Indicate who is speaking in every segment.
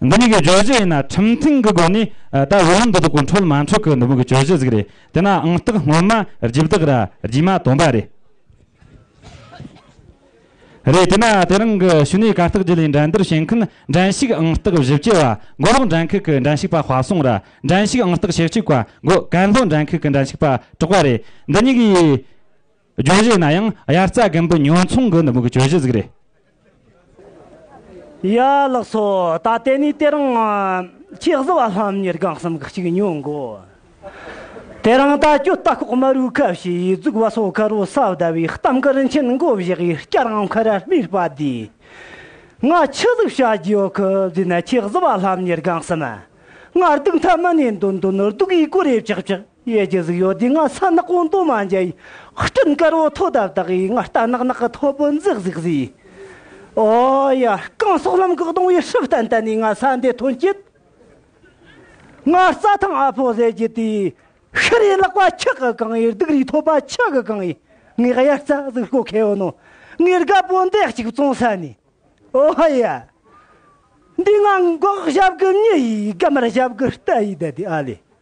Speaker 1: འདི་གཉིས་ཀྱི་བརྗོད་གཞི་ཡིན་ན་ཁྲིམས་མཐུན་གྱི་སྒོ་ནས་ད་འོས་ལངས་འདི་དག་གོ་འཕྲོད་མ་འཕྲོད་ཀྱི་འདི་མོ་གི་བརྗོད་གཞི་ཟིག་རེད་དེ་ན་ཨང་རྟགས་སྔོན་མ་རྗེས་བདག་ར་རྗེས་མ་དོན་པ་རེད། རེད་དེ་ན་དེ་རིང་གི་ཞུ་ནས་གར་སྟེགས་བརྒྱུད་ལས་འགྲན་བསྡུར་བྱེད་མཁན་འགྲན་ཞུགས་ཨང་རྟགས་བཞི་བཅུ་བ་མགོ་ལོག་འགྲན་ཁུལ་གྱི་འགྲན་ཞུགས་པ་བྷ་སོང་ར་འགྲན་ཞུགས་ཨང་རྟགས་ཞེ་གཅིག་བ་མགོ་གན་ལྷོ་འགྲན་ཁུལ་གྱི་འགྲན་ཞུགས་པ་གྲོགས་པ་རེད་འདི་གཉིས་ཀྱིས། བརྗོད་གཞི་ཡིན་ན་ཡང་དབྱར་རྩྭ་དགུན་འབུ་ཉོ་འཚོང་གི་ནུབ་མོའི་བརྗོད་གཞི་ཟིག་རེད།
Speaker 2: ཡ་ལགས་སོ། ད་ལྟེ་ནས་དེ་རིང་ཁྱེད་བཟི་བ་ལྷམ་གཉེར་སྒང་གསུམ་གི་གཅིག་ཉོ་འགོ། དེ་རིང་ད་ཁྱོད་རྟ་ཁོག་མ་རུའི་ཁབ་ཞེས་ཡིད་གཟུགས་བ་སོ་ཁ་རུ་སྲབ་ཟླ་བའི་གཏམ་དཀར་མཆན་མགོ་བཞག་ཡིག་སྐྱ་རང་ཁ་ར་སྨིར་སྤ་དེ། ང་ཁྱི་གཟིགས་བྱ་རྒྱུ་ཡོད་ཁུ་བཟི་ན་ཁྱེད་བཟི་བ་ལྷམ་གཉེར་སྒང་གསུམ། ང་སྡུག་མཐའ་མི་ནས་འདོན་འདོན་ནོར་སྡུག་གིས་གོ་རེ་བཅག་བཅག། གཡས་ཀྱི་གཟུགས་ཡོད་དུས་སྔ་ས་ནག་པོ་མདོག་མ་འཇའ་ཡི་སྤྲིན་དཀར་བོ་ཐོག་དབབ་དག་གིས་ང་རྟ་ནག་ནག་གི་ཐོག་བུ་འཛེག་འཛེག་བཟས། ཨོ་ཡ། རྐང་སོག་ལམ་གག་སྡོང་བའི་ཧྲིལ་ཏན་ཏན་ནས་ང་ས་འདི་ཐོན་སྐྱེད། ང་རྩ་ཐང་ཨ་ཕོ་ཟས་ཀྱི་དུས། ཤི་རེ་ལག་པ་ཁྱག་གི་གང་ཡིན་སྡུག་རུས་ཐོད་པ་ཁྱག་གི་གང་ཡིན་ངའི་དབྱར་རྩ་གཟུགས་སྐོ་ཁེ་བོ་ནོ། ངའི་རྒ་པོ་འདེགས་གཅིག་བཙོང་ས་ནས། ཨོ་ཡ། འདི་ང་འགོག་ཞབས་གི་མྱི་ཡིས་རྒམ་ར་ཞབས་གི་རྟ་ཡིས་བདའ་དུས་ཨ་ལས།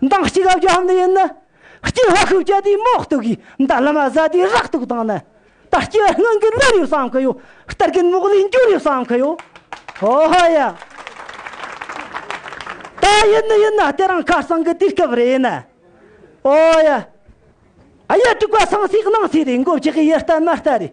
Speaker 2: མདངས་གཅིག་ཨབ་རྒྱ་ཧམ་ནི་ཡིན། སྐྱེ་བ་ཤུགས་བསྐྱེད་དུས་མོག་སྟུག་གིས་མདའ་ལ་མ་ཟ་དུས་རག་སྟུག་དང་ནི། ད་སྐྱེ་བ་སྔོན་གྱི་ལོ་རེའུ་བསམ་གི་ཡོ། སྟར་གིན་མོག་ལས་འགྱུར་རེའུ་བསམ་གི་ཡོ། ཧོ་ཧོ་ཡ། ད་ཡིན་ནི་ཡིན་ན་དེ་རང་ཁ་སང་གི་དུས་སྐབས་རེད་ནི། ཨོ་ཡ། ཨ་ཡ་དྲུག་པ་སང་སྲིད་གནང་སྲིད་རེད་འགོ་བཅག་གི་ཡི་ལྟ་མ་ལྟ་རེད།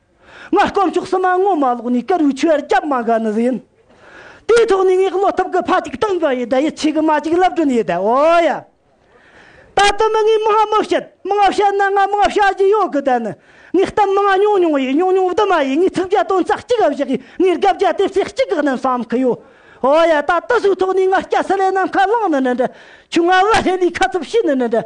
Speaker 2: སྔར་དཀོན་མཆོག་སྲིད་མ་ངོ་མ་ལོག་ནས་ཀར་བའི་ཆོས་རྒྱབ་མ་དགའ་ནི་ཟིན། དེའི་ཐོག་ནས་ངས་བློ་ཐབས་ཀྱི་ཕ་གཅིག་སྟོན་པ་ཡི་དད་ཡིད་ཆེས་ཀྱི་མ་གཅིག་ལབ་གྲོན་ཡི་དད་འོ་ཡ། ད་དུ་མི་ངའི་མི་ཧ་མི་བཤད་མི་ང་བཤད་ན་ང་མི་ང་བྱ་རྒྱུ་ཡོད་གི་དད་ནི་ངའི་གཏམ་མི་ང་ཉུང་ཉུང་ཡིན་ཉུང་ཉུང་བསྡུ་མ་ཡིན་ངའི་ཚིག་བརྒྱ་དོན་རྩ་གཅིག་ག་བཞག་གིས་ངའི་དགབ་བརྒྱ་དེབ་ཚེག་གཅིག་གི་གནད་བསམ་གི་ཡོད་འོ་ཡ་ད་དུ་ཟུག་ཐོག་ནས་ང་སྐྱ་སེ་ལའི་ནམ་མཁའ་བླངས་ནི་འདྲ་འདྲ་ཆུང་ང་བ་ཧེ་ལིའི་ཁ་ཚུབ་བྱས་ནི་འདྲ་འདྲ།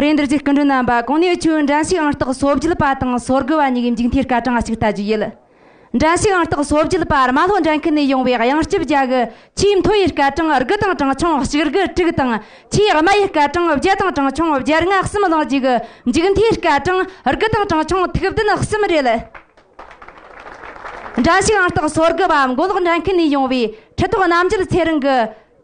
Speaker 3: རེ་འདུར་གྱི་སྐུ་མགྲོན་རྣམ་པ་གང་ནས་བྱོན་འགྲན་ཞུགས་ཨང་རྟགས་གསོ་བརྒྱུད་པ་དང་གསོ་དགོས་པ་གཉིས་ཀྱི་མཇུག་མཐའི་སྐར་གྲངས་གཅིག་ལྟ་རྒྱུ་ཡིན། འགྲན་ཞུགས་ཨང་རྟགས་གསོ་བརྒྱུད་པར་རྨ་ལྷོ་འགྲན་ཁུལ་ནས་ཡོང་བའི་གཡང་སྐྱིད་རྒྱ་དགུ་ཆེས་མཐོ་བའི་སྐར་གྲངས་དགུ་དང་གྲངས་ཆུང་གཅིག་དགུ་དྲུག་དང་ཆེས་དམའ་བའི་སྐར་གྲངས་བརྒྱད་དང་གྲངས་ཆུང་བརྒྱད་ལྔ་གསུམ་བླངས་རྗེས་ཀྱི་མཇུག་མཐའི་སྐར་གྲངས་དགུ་དང་གྲངས་ཆུང་ཐུགས་བདུན་གསུམ་རེད། འདྲ་ཞིག་ཨང་རྟགས་སོར་དགུ་པ་མགོ་ལོག་འདྲ་མཁན་ནས་ཡོང་བའི་ཁྲི་ཐོག་རྣམ་རྒྱལ་ཚེ་རིང་གི།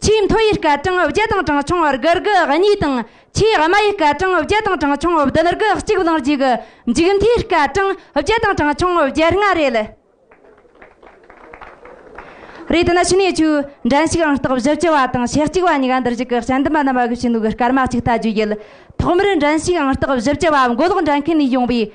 Speaker 3: ཆེས་མཐོ་ཡི་སྐད་གྲངས་བརྒྱད་དང་གྲངས་ཆུང་དགུ་དགུ་གཉིས་དང། ཆེས་དམའ་ཡི་སྐད་གྲངས་བརྒྱད་དང་གྲངས་ཆུང་བདུན་དགུ་གཅིག་བླངས་རྗེས་ཀྱི་མཇུག་མཐའི་སྐད་གྲངས་བརྒྱད་དང་གྲངས་ཆུང་བརྒྱད་ལྔ་རེད། རེད་ན་ཕྱི་ནས་ཆོས་འབྲེལ་ཞིག་ཨང་རྟགས་བཞི་བཅུ་བ་དང་ཞེ་གཅིག་པ་གཉིས་ཀ་འདིར་གཞུག་གི་བཤད་འདི་མ་རྣམས་ཨ་གུ་ཕྱི་ནུ་གི་སྐར་མ་གཅིག་ལྟ་རྒྱུ་ཡིན། ཐོག་མར་འབྲེལ་ཞིག་ཨང་རྟགས་བཞི་བཅུ་བ་མགོ་ལོག་འདྲ་མཁན་ནས་ཡོང་བའི་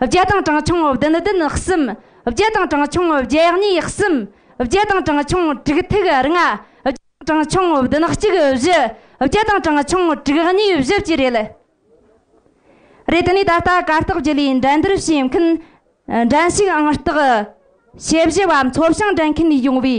Speaker 3: བརྒྱད་དང་གྲངས་ཆུང་བདུན་བདུན་གསུམ། བརྒྱད་དང་གྲངས་ཆུང་བརྒྱད་གཉིས་གསུམ། བརྒྱད་དང་གྲངས་ཆུང་དྲུག་ཐིག་ལྔ། བརྒྱད་དང་གྲངས་ཆུང་བདུན་གཅིག་བཞི། བརྒྱད་དང་གྲངས་ཆུང་དྲུག་གཉིས་བཞི་བཅས་རེད། རེད་དེ་ནས་ད་ལྟ་གར་སྟེགས་བརྒྱུད་ལས་འགྲན་བསྡུར་བྱེད་མཁན་འགྲན་ཞུགས་ཨང་རྟགས། དཔྱད་གཞི་བ་འཚོ་བྱང་འགྲན་མཁན་ཡོང་བའི།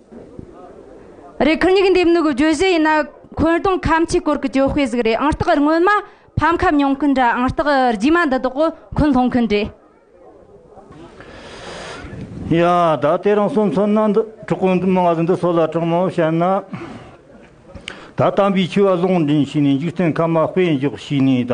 Speaker 3: རེད་ཁུར་སྙིགས་འདེབས་ནུག་བརྗོད་གཞི་ཡིན་ན་འཁོན་གདོང་ཁམ་ཆུས་བསྐོར་གི་གྱོ་དཔེ་ཟིག་རེད་ཨང་རྟགས་སྔོན་མ་ཕམ་ཁ་མྱོང་མཁན་འདྲ་ཨང་རྟགས་རྗེས་མ་འདི་དག་འཁོན་སློང་མཁན་རེད།
Speaker 4: ཡ་ད་ལྟའི་རང་སོ་མཚོན་ན་འདི་གྲོགས་པོ་འདི་མི་ང་ཟིག་འདི་སོ་ལ་དྲང་མོ་བཤད་ན། ད་དམ་པའི་ཆོས་བ་སློང་འདྲེན་བྱས་ནས་འཇིག་རྟེན་ཁམས་མ་དཔེ་འཇོག་བྱས་ནས་ད་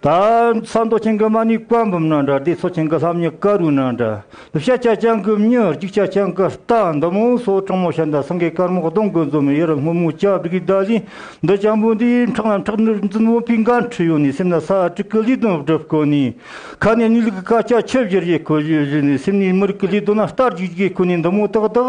Speaker 4: ད་ས་མདོ་ཆེན་གི་མ་ནི་བཀའ་འབུམ་ན་འདྲ་སྡེ་ཚོ་ཆེན་གི་ལྷམ་ནི་བཀའ་རུ་ན་འདྲ་དུ་ཤ་ཆ་ཅང་གི་མྱུར་གཅིག་ཆ་ཅང་གི་རྟ་འདི་མོ་སོ་གྲང་མོ་ཤ་འདི་སང་གི་དཀར་མོ་གདོང་གི་འཛུམ་དབྱེར་སྔོན་མོ་ལྕགས་སྒྲོག་གི་བརྡ་ལན་འདི་སྤྱང་པོ་འདིའི་འཕྲང་ལ་འཁྲག་ནུར་འཛིན་བོང་བུའི་འགའ་འཁྲིལ་ཡོང་ནས་སེམས་ན་ས་དྲུག་གི་ལུས་དོན་སྒྲུབ་དཀོན་ནི་ཁ་ནས་གནས་ལུགས་ཀྱི་བཀའ་ཆ་ཆུ་བཞུར་ཡི་གོ་བཞུར་བཞུར་ནས་སེམས་ནས་མི་རིགས་ཀྱི་ལུས་དོན་ལ་ལྟ་རྒྱུག་རྒྱུག་གི་ཁོ་ནི་འདི་མོ་ཏག་ཏག་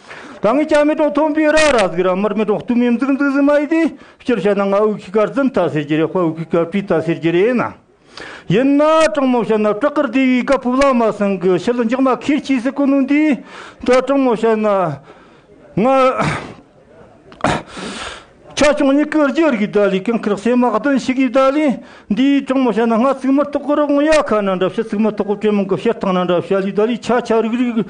Speaker 4: ད་ངས་ཀྱང་མེ་ཏོག་ཐོན་པའི་ར་ར་ཟིག་ར་མར་མེ་ཏོག་སྟུ་མིན་འཛུག་འཛུག་ཟིག་མ་ཡིན་ཏེ། སྤྱིར་བཤད་ན་ང་དབུགས་ཀྱི་ཁར་རྫུན་བལྟ་ཟེར་གྱི་རེད་དཔའ་དབུགས་ཀྱི་ཁར་སྤུས་བལྟ་ཟེར་གྱི་རེད་ན། ཡིན་ན་དྲང་མོ་བཤད་ན་བྲག་དཀར་སྡེ་བའི་སྒ་ཕུབ་ལགས་མ་སྲིང་གི་ཕྱི་ལོ་མཇག་མ་ཁེར་གྱིས་སུ་བཀོད་ནོ་འདི་ད་དྲང་མོ་བཤད་ན། ང། ཆ་ཆུང་གཉིས་ཀྱི་རྗེས་རིགས་ད་ལི་ཀང་ཁེར་བསེ་དམག་བདུན་ཞིག་གིས་ད་ལི་འདི་དྲང་མོ་བཤད་ན་ང་ཚིག་མི་ཐོག་གི་རོགས་ཡ་ཁ་ན་འདྲ་བཤད་ཚིག་མི་ཐོག་གི་གྲོས་མང་གི་བཤད་སྟངས་ན་འདྲ་བཤད་ལུས་ད་ལི་ཆ་ཆ་རིགས་རིགས།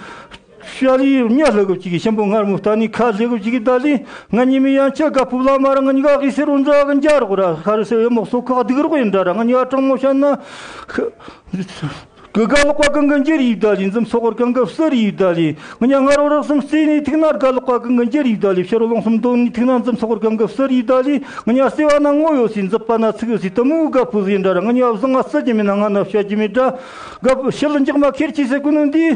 Speaker 4: ཤཱ་རིའི་བུ་གཉའ་ལྷ་གུ་བྱི་གི་ཤམ་པོ་ངར་མོ་རྟ་ནི་ཁ་ཟས་གུ་བྱི་གི་རྟ་ལིང་ང་ཉི་མི་ཡང་ཆད་ཀ་ཕུབ་ལ་མ་ར་ང་ཉི་ག་གི་སེར་བུ་འཛག་གི་འཇའ་རོག་ར་ཤཱ་རི་སེར་བའི་མོག་སོག་ཁག་སྡིག་རོག་ཡི་འདྲ་ར་ང་ཉི་ག་གྲང་མོ་ཤཱ་ན་གི་ག་ལོག་པ་གང་གི་འཇིར་ཡིག་རྟ་ལིང་འཛིམ་སོག་བར་གང་གི་བསེ་རི་ཡིག་རྟ་ལིང་ང་ཉ་ང་རོ་རག་གསུམ་བསེ་ནི་ཐིག་ནར་ག་ལོག་པ་གང་གི་འཇིར་ཡིག་རྟ་ལིང་བཤེ་རོ་ལོང་གསུམ་དོང་ནི་ཐིག་ནར་འཛིམ་སོག་བར་གང་གི་བསེ་རི་ཡིག་རྟ་ལིང་ང་ཉ་བསེ་བ་ན་སྔོ་ཡོ་སི་འཛིབ་པ་ན་ཚིག་ཡོ་སི་ཏི་མུའུ་ག་ཕུ་ཟི་ཡི་འདྲ་ར་ང་ཉི་ག་བཟང་ང་བསེ་གྱི་མི་ན་ང་ན་བཤའ་གྱི་མི་འདྲ་ག་ཕུ་ཤི་ལི་འཇག་མ་ཁེར་ཆི་སེ་གུ་ནུ་འདི་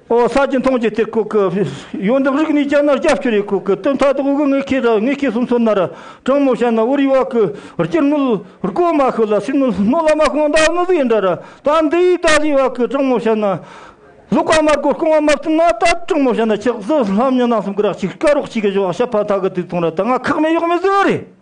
Speaker 4: ཨོ་ས་ཅི་མཐོང་ཅི་ཐེག་ཁུག་གི། ཡོ་འདབ་རིགས་ནི་སྐྱ་ནར་སྐྱ་ཕྱུ་རེ་ཁུག་གི། སྟོན་མཐའ་དག་དབུ་གུ་ངེ་ཁེ་ར་ངེ་ཁེ་སུམ་ཚོ་ནར། གྲང་མོ་བྱ་ན་དབུ་རི་བ་གུ། རྐྱེར་སྣུལ། རྐོ་མ་ཤུ་ལ་སི་སྣུལ་སྣོ་ལ་མ་ཁོང་ཟླ་སྣུ་གཟི་འདྲ་ར། ད་འདི་ཡི་ད་གཟི་བ་གུ་གྲང་མོ་བྱ་ན། ལུག་བ་མར་གོ་རྐང་བ་མར་ཏི་ན་ད་གྲང་མོ་བྱ་ན་ཆགས་བཟི་ལྷམ་ཉི་ནང་གསུམ་གི་རག་ཅིག་སྐ་རོག་ཅིག་གི་བྱ་བ་ཤ་ཕ་ད་གི་དུས་ཐུང་ར་ད་ང་ཁག་མེད་གཡོག་མེད་བཟི་བ་རེད།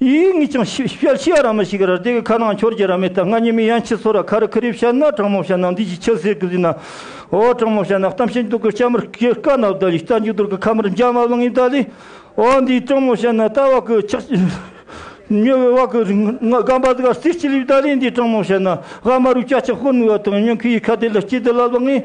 Speaker 4: ཡིད་ངེས་ཀྱང་ཤི་བྱ་ཤི་བ་ར་མི་ཤི་གི་ར་རྡེ་གི་ཁ་ནང་འཁྱོར་གྱི་ར་མི་རྟ་རྔ་ཉི་མའི་ཡན་ཆད་སོ་ར་ཁ་རི་ཁི་རི་བྱ་ན་གྲང་མོ་བྱ་ན་འདི་ཅི་ཆི་ཟེར་གི་ཟིན་ན། ཨོ་གྲང་མོ་བྱ་ན་གཏམ་བཤད་འདུག་གི་སྐྱ་མིར་ཀྱི་དཀའ་ན་བདའ་ལི་རྟ་མཇུག་རྡོར་གི་ཁ་མིར་འཇག་མ་བླངས་ཡིན་བདའ་ལི། ཨོ་འདི་གྲང་མོ་བྱ་ན་རྟ་བ་གི་ཆག་ཉོ་བའི་བ་གི་རྔ་འབའ་དགའ་བསིལ་གྱི་ལི་བདའ་ལི་འདི་གྲང་མོ་བྱ་ན་རྔ་མ་རུ་སྐྱ་ཆག་ཧུར་ནུ་བ་དང་ཉོན་ཁི་ཡི་ཁ་དེ་ལ་སྐྱི་དེ་ལ་བླངས་ཡིན།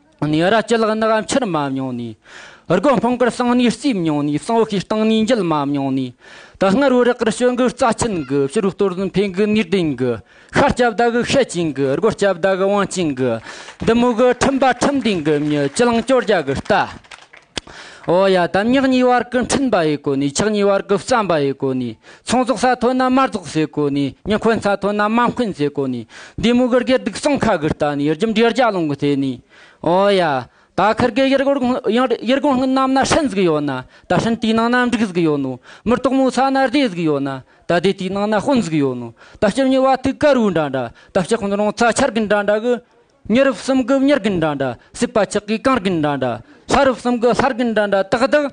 Speaker 5: ནས་ར་སྤྱི་ལག་ནག་འཁྱུར་མ་མྱོང་ནས། སྒོ་སྨུག་གར་སང་ནས་རྩིས་མྱོང་ནས་སང་ཤའི་སྟེང་ནས་འགྱེལ་མ་མྱོང་ནས། ད་སྔར་བོད་རག་གིར་བྱོན་གི་རྩ་ཆེན་གི་ཕྱི་རུ་གཏོར་ཟིན་འཕེན་གི་ནུས་ལྡན་གི། ཤ་སྐྱབས་ཟླ་གི་ཤེད་ཅན་གི་རྒོད་སྐྱབས་ཟླ་གི་བང་ཅན་གི། འདི་མོ་གི་ཁྲིམས་པ་ཁྲིམས་ལྡན་གི་མྱི་སྤྱི་ལང་སྐྱོར་རྒྱ་གི་རྟ། འོ་ཡ་དམ་ཉག་གཉིས་བར་གི་འཕྲིན་པ་ཡི་གོ་ནས་ཆག་གཉིས་བར་གི་བརྩམས་པ་ཡི་གོ་ནས། ཚོང་ཟོག་ས་མཐོ་ན་མར་ཟོག་ཟེ་གོ་ནས་སྙི་འཁོན་ས་མཐོ་ན་མ་འཁོན་ཟེ་གོ་ནས་འདི་མུ་གུར་གེར་སྡུག་གསུམ་ཁ་དགུ་ལྟ་ནས་ཡུར་འཇམ་འདྲེར་རྒྱ་ལོང་གི་ལྟས་ནས། ཨོ་ཡ། ད་ཁར་གེ་ཡུར་གོར་ཡུར་གོང་སྔུན་ནམ་ན་ཧྲན་ཟིག་ཡོ་ན་ད་ཧྲན་དུས་ནང་ན་འབྲུག་ཟིག་ཡོ་ནོ་མུར་ཏོག་མོ་ས་ན་རྡེ་ཟིག་ཡོ་ན་ད་དེ་དུས་ནང་ན་དཔོན་ཟིག་ཡོ་ནོ་ད་སྐྱིབས་ཉི་བ་ཐུགས་དཀར་བོའི་འདྲ་འདྲ་ད་སྐྱིབས་ཁོང་རོང་ཚ་འཆར་གི་འདྲ་འདྲ་གི། ཉི་རུ་གསུམ་གྱི་ཉི་རྒན་འདྲ་འདྲ། སྲིད་པ་ཆགས་ཀྱི་གངས་རྒན་འདྲ་འདྲ། ལྷ་རུ་གསུམ་གྱི་ལྷ་རྒན་འདྲ་འདྲ། ཏག་ཏག།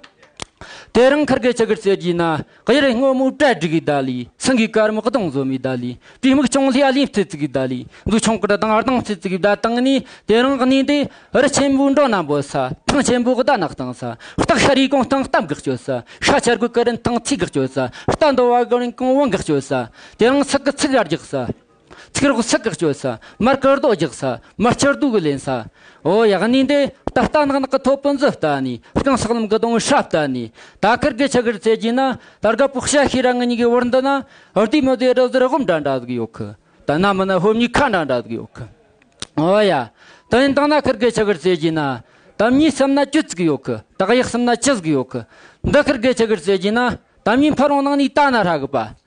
Speaker 5: དེ་རིང་འཁར་གའི་ཆུ་ཁར་བྱེད་ཀྱི་ན། གཡུ་རི་སྔོན་མོའི་གྲལ་སྒྲིག་གི་ཟླ་ལི། སེང་གེའི་དཀར་མོའི་གདོང་བཟོ་མའི་ཟླ་ལི། དྲི་མིག་ཅུང་ལྷེ་ལྷེ་བྱེད་ཚིག་གི་ཟླ་ལི། འཛུགས་ཆུང་ཀྲི་དང་ཨརྡང་བྱེད་ཚིག་གི་ཟླ་སྟེང་ནས། དེ་རིང་གནས་འདི། རི་ཆེན་པོའི་འབྲོག་ནང་འབོད་ས། ཐང་ཆེན་པོའི་རྡ་ནག་སྟེང་ས། སྟག་ཤར་ཡུལ་གོང་སྟེང་སྟབས་འགག་སྤྱོད་ས། ཤ་ཆེར་གོས་ཀ་རིན་ཐང་ཚིག་འགག་སྤྱོད་ས། རྟ་འདོ་བ་གོས་རིན་གོང་བུ་འགག་སྤྱོད་ས། དེ་རིང་ཚིག་གི་ཚིག་ཡར་རྒྱག་ས། ཚིག་རོག་ཚིག་གི་སྤྱོད་ས། མར་སྐུ་རྡོ་རྒྱག་ས། མར་ཕྱིར་བསྡུ་གི་ལེན་ས། འོ་ཡག་ནི་འདི། ད་ལྟ་ནག་ནག་གི་ཐོ་སྤུན་ཟི་ལྟ་ནི། རྐང་ཟག་ལམ་གི་སྡོང་བོ་ཧྲ་ལྟ་ནི། ད་ཀིར་གི་ཆི་གིར་རྩེ་རྒྱུ་ན། ད་རྒ་པོ་ཤ་ཤི་ར་ངི་ཉི་གི་བར་འདི་ན། རྡུལ་མི་བདེ་རི་ཟི་རི་ཧོམ་འདྲ་འདྲ་ཟིག་ཡོད་གི། ད་སྣ་མི་ན་ཧོམ་གཉིས་ཁ་འདྲ་འདྲ་ཟིག་ཡོད་གི། འོ་ཡ། ད་ཡིན་དང་ན་ཀིར་གི་ཆི་གིར་རྩེ་རྒྱུ་ན། དམ་ཉིས་གསུམ་ན་བཅུ་ཟིག་ཡོད་གི། དག་ཡིག་གསུམ་ན་ཅི་ཟིག་ཡོད་གི། འདི་ཀིར་གི་ཆི་གིར་རྩེ་རྒྱུ་ན། དམ་ཉིས་འཕར་རོང་ནང་ནི་ད་ན་ཧྲ་གི་པ།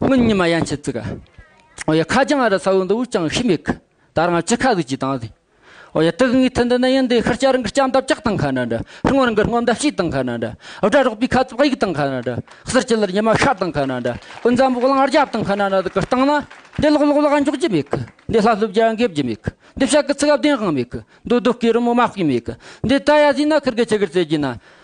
Speaker 5: སྔོན་ཉི་མ་ཡན་ཆད་བརྩིག། ཨོ་ཡ་ཁ་རྒྱང་ཨ་ར་ཚ་བོ་འདི་འུར་ཀྱང་ཤི་མེད་གི། ད་རང་ཅི་ཁ་ཟིག་ཅིག་དང་ཟིག། ཨོ་ཡ་དུག་ལྔའི་མཐུ་འདི་ནི་ཡིན་འདི་ཤི་སྐྱ་རི་འགི་སྐྱ་འདབ་ལྕགས་དང་ཁ་འདྲ་འདྲ། ཧིན་བོད་འགི་སྔོ་འདབ་ཤིག་དང་ཁ་འདྲ་འདྲ། ཨོ་སྒྲ་རོག་པའི་ཁ་ཙུག་ཡིག་དང་ཁ་འདྲ་འདྲ། གསེར་སྐྱི་ལར་ཉི་མ་ཤར་དང་ཁ་འདྲ་འདྲ། ཨོ་འཛམ་བུ་གླང་རྒྱབ་དང་ཁ་འདྲ་འདྲ་གི་སྟེང་ན། འདི་ལོག་ལོག་ལ་འཇོག་རྒྱུ་མེད་གི། འདི་ལྷབ་ལྷུབ་རྒྱ་འགེབས་རྒྱུ་མེད་གི། འདི་ཕྱག་གི་ཚིག་ཨབ་བདེན་དབང་མེད་གི། འདི་སྡུག་གི་རི་མོ་མ་བརྐོས་མེད་གི། འདི་རྟ་ཡ་བཟས་ན་ཁུར་གི་ཆི་གིར་རྩེ་རྒྱུ་ན།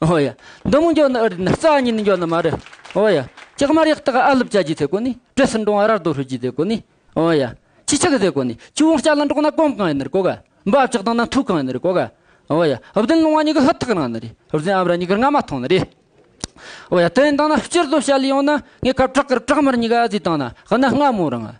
Speaker 5: ཨོ་ཡ། འདི་མོ་འགྱོ་ནི་ཨི་རེད་ནི་རྩ་གཉིས་ནི་འགྱོ་ནི་མ་རེད། ཨོ་ཡ། ཅག་མར་ཡག་དག་ཨ་ལུབ་བྱ་རྒྱུ་དེ་ཀོ་ནི། བྲེ་སི་འབྲོང་ཨ་རར་དོ་ཧྲུལ་རྒྱུ་དེ་ཀོ་ནི། ཨོ་ཡ། ཅི་ཆག་གི་དེ་ཀོ་ནི། ཆུ་བོང་སྐྱ་ལ་འགྲོག་ན་གོམ་གང་ཡིན་ནི་རེད་ཀོ་ག། འབའ་བཅག་དང་ན་ཐུག་གང་ཡིན་ནི་རེད་ཀོ་ག། ཨོ་ཡ། བདུན་ལུང་བ་གཉིས་ཀི་ཧུད་ཐག་རང་ནི་རེད། བདུན་ཨམ་ར་གཉིས་ཀི་རྔ་མ་ཐང་ནི་རེད། ཨོ་ཡ། དེ་ཡིན་དང་ན་སྤྱིར་བཏོ་བྱ་ལི་ཡོང་ན། ངས་ཁ་བྲག་གིར་བྲག་མར་གཉིས་ཀ་ཨ་ཙི་དང་ན། ཧི་ན་རྔ་མོ་རང་ཨ།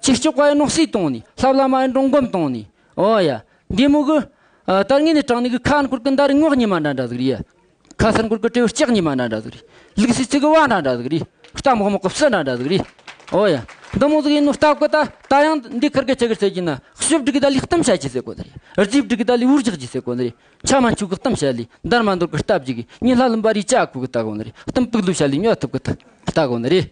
Speaker 5: ཅིག་ཅོག་ཀའི་ནོག་སྲིད་དང་ནི། ལྷབ་ལྷ་མའི་འབྲོང་སྒོམ་དང་ནི། འོ་ཡ། འདི་མོ་གི། དར་ངན་ནི་དྲང་ནི་གི་ཁ་འཁོར་གི་མདའ་རི་ངོགས་ཉི་མ་འདྲ་འདྲ་ཟིག་རི་ཡ། ཁ་སར་འཁོར་གི་སྤྲེའུ་ལྕགས་ཉི་མ་འདྲ་འདྲ་ཟིག་རི། ལུག་སྲིད་ཚིག་གི་བ་འདྲ་འདྲ་ཟིག་རི། རྟ་མོག་མོག་གི་བསུ་འདྲ་འདྲ་ཟིག་རི། འོ་ཡ། འདི་མོ་ཟིག་ཡིན་ནོ་རྟ་གོ་ད། ད་ཡང། འདི་ཁར་གི་ཆེ་གེར་ཟེར་གྱིས་ན། བཤུ་བསྒྲིགས་ད་ལི་གཏུམ་བྱ་གྱིས་ཟེར་གོ་ད་རི། རྫིས་བསྒྲིགས་ད་ལི་འུར་རྒྱག་གྱིས་ཟེར་གོ་ད་རི། ཆ་མ་འཆུག་གི་གཏུམ་བྱ་ལི། འདར་མ་འདོར་གི་རྟ་བརྒྱུགས་གི། ཉིན་ལྷ་ལུམ་པ་རིའི་ལྕགས་ཁུག་གི་རྟ་གོ་ན་རི། གཏུམ་ཕུག་ལུག་བྱ་ལི་སྨྱོ་ཐུབ་གི་རྟ་གོ་ན་རི།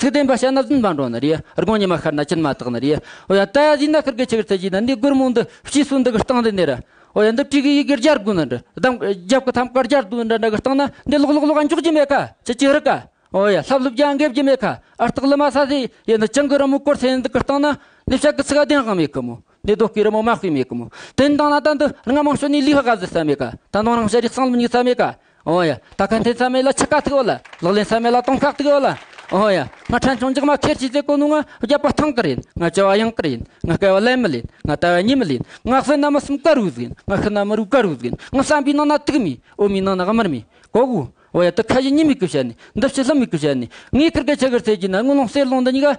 Speaker 5: ཚིག་བདེན་པ་ཤ་ན་བདུན་པ་འགྲོ་ན་རེ་རྒོང་ཉི་མ་ཤར་ན་ཅིར་མ་དག་ན་རེ། ཨོ་ཡ། ད་ཡ་ཟིན་ན་ཁུར་གི་ཆུ་བེར་ཚད་གཞི་ན་འདི་སྒོར་མོ་འདི་ཕྱིས་སུ་འདི་གི་སྟེང་དུ་ནེར། ཨོ་ཡ། འདི་བྲིས་གི་ཡི་གེར་སྦྱར་དགོས་ན་འདི་གདམ། རྒྱབ་གི་ཐམ་ཀར་སྦྱར་དུ་འདྲ་འདྲ་གི་སྟེང་ན་འདི་ལོག་ལོག་ལོག་འཇོག་རྒྱུ་མེད་ཁ་ཅི་ཅི་རི་ཀ། ཨོ་ཡ། ལྷབ་ལྷུབ་ཀྱང་འགེབ་རྒྱུ་མེད་ཁ་ཨར་སྟག་ལི་མ་ས་སི་ཡི་འདི་བྱང་གི་རི་མོ་བསྐོར་ཚད་འདི་གི་སྟེང་ན་འདི་ཕྱག་གི་ཚིག་བདེན་དབང་མེད་ཁུ་མོ་འདི་རྡོ་སྐས་རི་མོ་མ་སྤུས་མེད་ཁུ་མོ་དེ་འདང་ན་ད་འདི་རྔ་མང་ཤོས་ནས་ལུས་ཧ་ག་ཟི་ས་མེད་ཁ་ད་འདང་རང་ཤ་རེ་གསང་ལུགས་ཉིག་ས་མེད་ཁ། ཨོ་ཡ། ད་ཁ་འཐེན་ས་མེད་ལ་ཆི་ཀ་ཐིག་ཨོ་ལ། ལག་ལེན་ས་མེད་ལ་དོང་ཁག་ཐིག་ཨོ་ལ། ཨོ་ཡ། ང་ཕྲན་ཆུང་འཇག་མ་ཁེར་གྱིས་ཟས་གོ་ནུ་ང་བརྒྱབ་པ་ཐང་དཀར་ཡིན་ང་སྐྱེ་བ་གཡང་དཀར་ཡིན་ང་སྐལ་བ་ལན་མི་ལེན་ང་དལ་བ་གཉིད་མི་ལེན་ང་བསོད་ནམས་མི་གསུམ་ཀ་རུ་ཟིན་ང་ཤི་ན་མི་རུ་དཀར་རུ་ཟིན་ང་བསམ་པའི་ནང་ན་དུག་མེད་ཨོ་མའི་ནང་ན་དམར་མེད་གོ་གོ། ཨོ་ཡ་དུ་ཁ་ཞེ་གཉིས་མེད་ཀི་བཤད་ནི་འདི་ཕྱི་ལྷུམ་མེད་ཀི་བཤད་ནི་ངའི་ཁུར་ཁ་ཆི་ཁར་ཚད་ཀྱིས་ན་དངུལ་ལོང་གསེར་ལོང་འདི་གཉིས་ཀ་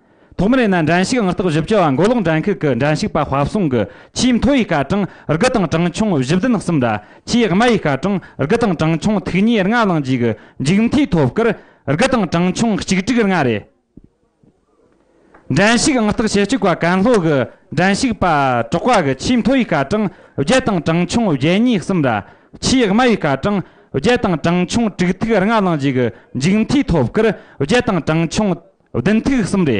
Speaker 1: ཐོག་མར་ཡིན་ན་འགྲན་ཞུགས་དངུལ་རྟགས་བཞི་བཅུ་བ་མགོ་ལོག་འགྲན་ཤུགས་ཀྱི་འགྲན་ཞུགས་པ་དཔའ་བཟང་གི་ཆེས་མཐོ་བའི་སྐར་གྲངས་དགུ་དང་གྲངས་ཆུང་བཞི་བདུན་གསུམ་ལ་ཆེས་དམའ་བའི་སྐར་གྲངས་དགུ་དང་གྲངས་ཆུང་ཐུག་ཉེ་ལྔ་བླངས་རྗེས་ཀྱི་མཇུག་མཐའི་ཐོབ་སྐར་དགུ་དང་གྲངས་ཆུང་གཅིག་དྲུག་ལྔ་རེད། འགྲན་ཞུགས་དངུལ་རྟགས་ཞེ་གཅིག་བ་ཀན་ལྷོ་གི་འགྲན་ཞུགས་པ་གྲོགས་པ་གི་ཆེས་མཐོ་བའི་སྐར་གྲངས་བརྒྱད་དང་གྲངས་ཆུང་བརྒྱད་གཉིས་གསུམ་ལ་ཆེས་དམའ་བའི་སྐར་གྲངས་བརྒྱད་དང་གྲངས་ཆུང་དྲུག་ཐིག་ལྔ་བླངས་རྗེས་ཀྱི་མཇུག་མཐའི་ཐོབ་སྐུར་བརྒྱད་དང་གྲངས་ཆུང་བདུན་ཐིག་གསུམ་རེ།